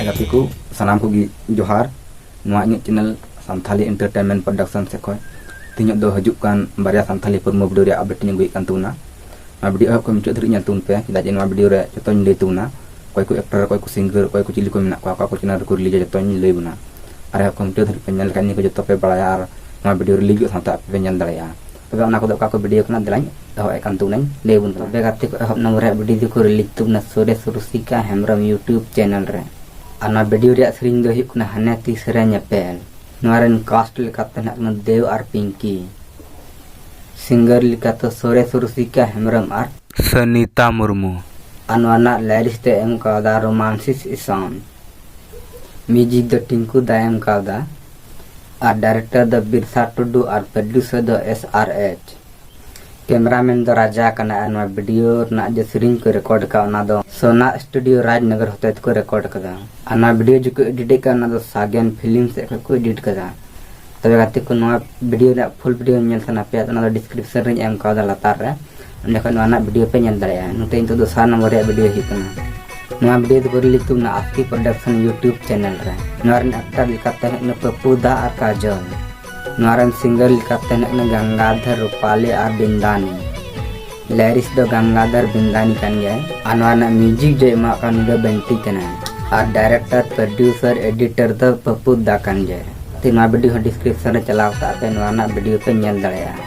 ᱜᱟᱛᱮ ᱠᱚ ᱥᱟᱱᱟᱢ ᱠᱚᱜᱮ ᱡᱚᱦᱟᱨ ᱱᱚᱣᱟ ᱤᱧᱟᱹᱜ ᱪᱮᱱᱮᱞ ᱥᱟᱱᱛᱷᱟᱞᱤ ᱮᱱᱴᱟᱨᱴᱮᱱᱢᱮᱱᱴ ᱯᱨᱚᱰᱟᱠᱥᱚᱱ ᱥᱮᱫ ᱠᱷᱚᱱ ᱛᱮᱦᱮᱧᱚᱜ ᱫᱚ ᱦᱤᱡᱩᱜ ᱠᱟᱱ ᱵᱟᱨᱭᱟ ᱥᱟᱱᱛᱷᱟᱞᱤ ᱯᱨᱚᱢᱳ ᱵᱷᱤᱰᱤᱭᱳ ᱨᱮᱭᱟᱜ ᱟᱯᱰᱮᱴ ᱤᱧ ᱟᱹᱜᱩᱭᱮᱫ ᱠᱟᱱ ᱛᱟᱵᱚᱱᱟ ᱱᱚᱣᱟ ᱵᱷᱤᱰᱤᱭᱳ ᱮᱦᱚᱵ ᱠᱷᱚᱱ ᱢᱩᱪᱟᱹᱫ ᱫᱷᱟᱹᱨᱤᱡ ᱧᱮᱞ ᱛᱟᱵᱚᱱ ᱯᱮ ᱪᱮᱫᱟᱜ ᱡᱮ ᱱᱚᱣᱟ ᱵᱷᱤᱰᱤᱭᱳ ᱨᱮ ᱡᱚᱛᱚᱧ ᱞᱟᱹᱭ ᱛᱟᱵᱚᱱᱟ ᱚᱠᱚᱭ ᱠᱚ ᱮᱠᱴᱚᱨ ᱚᱠᱚᱭ ᱠᱚ ᱥᱤᱝᱜᱟᱨ ᱚᱠᱚᱭ ᱠᱚ ᱪᱤᱞᱤ ᱠᱚ ᱢᱮᱱᱟᱜ ᱠᱚᱣᱟ ᱚᱠᱟ ᱠᱚ ᱪᱮᱱᱮᱞ ᱨᱮᱠᱚ ᱨᱤᱞᱤᱡᱟ ᱡᱚᱛᱚᱧ ᱞᱟᱹᱭ ᱵᱚᱱᱟ ᱟᱨ ᱮᱦᱚᱵ ᱠᱷᱚᱱ ᱢᱩᱪᱟᱹᱫ ᱫᱷᱟᱹᱨᱤᱡ ᱯᱮ ᱧᱮᱞ ᱞᱮᱠᱷᱟᱱ ᱱᱤᱭᱟᱹ ᱠᱚ ᱡᱚᱛᱚ ᱯᱮ ᱵᱟᱲᱟᱭᱟ ᱟᱨ ᱱᱚᱣᱟ ᱵᱷᱤᱰᱤᱭᱳ ᱨᱤᱞᱤᱡᱚᱜ ᱥᱟᱶᱛᱮ ᱟᱯᱮ ᱯᱮ ᱧᱮᱞ ᱫᱟᱲᱮᱭᱟᱜᱼᱟ ᱛᱚᱵᱮ ᱚᱱᱟ ᱠᱚᱫᱚ ᱚᱠᱟ ᱠᱚ ᱵᱷᱤᱰᱤᱭᱳ ᱠᱟᱱᱟ ᱫᱮᱞᱟᱧ ᱮᱦᱚᱵ ᱮᱫ ᱠᱟᱱ ᱛᱟᱵᱚᱱᱟᱹᱧ ᱞᱟᱹᱭ ᱟᱵᱚᱱ ᱠᱟᱱᱟ ᱛᱚᱵᱮ ᱜᱟᱛᱮ ᱠᱚ ᱮᱦᱚᱵ ᱱᱚᱢᱵᱚᱨ ᱨᱮᱭᱟᱜ ᱵᱷᱤᱰᱤᱭᱳ ᱫᱚᱠᱚ ᱨᱤᱞᱤᱡᱽ ᱛᱟᱵᱚᱱᱟ ᱥᱩᱨᱮᱥ ᱨᱩᱥᱤᱠᱟ ᱦᱮᱢᱵᱨᱚᱢ ᱤᱭᱩᱴᱩᱵᱽ ᱪᱮᱱᱮᱞ ᱨᱮ ᱟᱨ ᱱᱚᱣᱟ ᱵᱷᱤᱰᱤᱭᱳ ᱨᱮᱭᱟᱜ ᱥᱮᱨᱮᱧ ᱫᱚ ᱦᱩᱭᱩᱜ ᱠᱟᱱᱟ ᱦᱟᱱᱮ ᱛᱤᱥ ᱨᱮ ᱧᱮᱯᱮᱞ ᱱᱚᱣᱟ ᱨᱮᱱ ᱠᱟᱥᱴ ᱞᱮᱠᱟᱛᱮ ᱦᱮᱱᱟᱜ ᱠᱟᱱᱟ ᱫᱮᱣ ᱟᱨ ᱯᱤᱝᱠᱤ ᱥᱤᱝᱜᱟᱨ ᱞᱮᱠᱟᱛᱮ ᱥᱩᱨᱮᱥ ᱨᱩᱥᱤᱠᱟ ᱦᱮᱢᱵᱨᱚᱢ ᱟᱨ ᱥᱚᱱᱤᱛᱟ ᱢᱩᱨᱢᱩ ᱟᱨ ᱱᱚᱣᱟ ᱨᱮᱱᱟᱜ ᱞᱟᱭᱨᱤᱥ ᱫᱚ ᱮᱢ ᱠᱟᱣᱫᱟ ᱨᱳᱢᱟᱱᱥᱤᱥ ᱤᱥᱟᱢ ᱢᱤᱭᱩᱡᱤᱠ ᱫᱚ ᱴᱤᱝᱠᱩ ᱫᱟᱭ ᱮᱢ ᱠᱟᱣᱫᱟ ᱟᱨ ᱰᱟᱭᱨᱮᱠᱴᱚᱨ ᱫᱚ ᱵᱤᱨᱥᱟ ᱴᱩᱰᱩ ᱟᱨ ᱯᱨᱚᱰᱭᱩᱥᱚᱨ ᱫᱚ ᱮᱥ ᱟᱨ ᱮᱪ ᱠᱮᱢᱮᱨᱟᱢᱮᱱ ᱫᱚ ᱨᱟᱡᱟ ᱠᱟᱱᱟ ᱟᱨ ᱱᱚᱣᱟ ᱵᱷᱤᱰᱤᱭᱳ ᱨᱮᱱᱟᱜ ᱡᱮ ᱥᱮᱨᱮᱧ ᱠᱚ ᱨᱮᱠᱚᱨᱰ ᱟᱠᱟᱫ ᱚᱱᱟ ᱫᱚ ᱥᱳᱱᱟ ᱥᱴᱩᱰᱤᱭᱳ ᱨᱟᱡᱽᱱᱚᱜᱚᱨ ᱦᱚᱛᱮ ᱛᱮᱠᱚ ᱨᱮᱠᱚᱨᱰ ᱟᱠᱟᱫᱟ ᱟᱨ ᱱᱚᱣᱟ ᱵᱷᱤᱰᱤᱭᱳ ᱡᱮᱠᱚ ᱮᱰᱤᱴ ᱟᱠᱟᱫ ᱚᱱᱟ ᱫᱚ ᱥᱟᱜᱮᱱ ᱯᱷᱤᱞᱢ ᱥᱮᱫ ᱠᱷᱚᱱ ᱠᱚ ᱮᱰᱤᱴ ᱟᱠᱟᱫᱟ ᱛᱚᱵᱮ ᱜᱟᱛᱮ ᱠᱚ ᱱᱚᱣᱟ ᱵᱷᱤᱰᱤᱭᱳ ᱨᱮᱭᱟᱜ ᱯᱷᱩᱞ ᱵᱷᱤᱰᱤᱭᱳ ᱧᱮᱞ ᱥᱟᱱᱟ ᱯᱮᱭᱟ ᱚᱱᱟ ᱫᱚ ᱰᱤᱥᱠᱨᱤᱯᱥᱚᱱ ᱨᱮᱧ ᱮᱢ ᱠᱟᱣᱫᱟ ᱞᱟᱛᱟᱨ ᱨᱮ ᱚᱸᱰᱮ ᱠᱷᱚᱱ ᱱᱚᱣᱟ ᱨᱮᱱᱟᱜ ᱵᱷᱤᱰᱤᱭᱳ ᱯᱮ ᱧᱮᱞ ᱫᱟᱲᱮᱭᱟᱜᱼᱟ ᱱᱚᱛᱮ ᱱᱤᱛᱚᱜ ᱫᱚᱥᱟᱨ ᱱᱚᱢᱵᱚᱨ ᱨᱮᱭᱟᱜ ᱵᱷᱤᱰᱤᱭᱳ ᱦᱩᱭᱩᱜ ᱠᱟᱱᱟ ᱱᱚᱣᱟ ᱵᱷᱤᱰᱤᱭᱳ ᱫᱚ ᱨᱤᱞᱤᱡᱽ ᱛᱩᱢᱱᱟ ᱟᱥᱠᱤ ᱯᱨᱚᱰᱟᱠᱥᱚᱱ ᱭᱩᱴᱤᱭᱩᱵᱽ ᱪᱮᱱᱮᱞ ᱨᱮ ᱱᱚᱣᱟ ᱨᱮᱱ ᱟᱠᱴᱟᱨ ᱞᱮᱠᱟᱛᱮ ᱦᱮᱡ ᱮᱱᱟ ᱯᱟᱯᱩ ᱫᱟ ᱟᱨ ᱠᱟᱡᱚᱞ ᱱᱚᱣᱟ ᱨᱮᱱ ᱥᱤᱝᱜᱟᱨ ᱞᱮᱠᱟᱛᱮ ᱦᱮᱡ ᱮᱱᱟ ᱜᱟᱝᱜᱟᱫᱷᱚᱨ ᱨᱩᱯᱟᱞᱤ ᱟᱨ ᱵᱤᱱᱫᱟᱱᱤ ᱞᱮᱨᱤᱥ ᱫᱚ ᱜᱟᱝᱜᱟᱫᱷᱚᱨ ᱵᱤᱱᱫᱟᱱᱤ ᱠᱟᱱ ᱜᱮᱭᱟᱭ ᱟᱨ ᱱᱚᱣᱟ ᱨᱮᱱᱟᱜ ᱢᱤᱭᱩᱡᱤᱠ ᱡᱚᱭ ᱮᱢᱟᱜ ᱠᱟᱱ ᱩᱱᱤ ᱫᱚ ᱵᱮᱱᱴᱤ ᱠᱟᱱᱟᱭ ᱟᱨ ᱰᱟᱭᱨᱮᱠᱴᱚᱨ ᱯᱨᱚᱰᱭᱩᱥᱚᱨ ᱮᱰᱤᱴᱚᱨ ᱫᱚ ᱯᱟᱯᱩ ᱫᱟ ᱠᱟᱱ ᱜᱮᱭᱟᱭ ᱛᱮ ᱱᱚᱣᱟ ᱵᱷᱤᱰᱤᱭᱳ ᱦᱚᱸ ᱰᱤᱥᱠᱨᱤᱯᱥᱚᱱ ᱨᱮ ᱪᱟᱞᱟᱣ ᱠᱟᱛᱮ ᱟᱯᱮ ᱱᱚᱣᱟ ᱨᱮᱱᱟᱜ ᱵᱷᱤᱰᱤᱭᱳ ᱯᱮ ᱧᱮᱞ ᱫᱟᱲᱮᱭᱟᱜᱼᱟ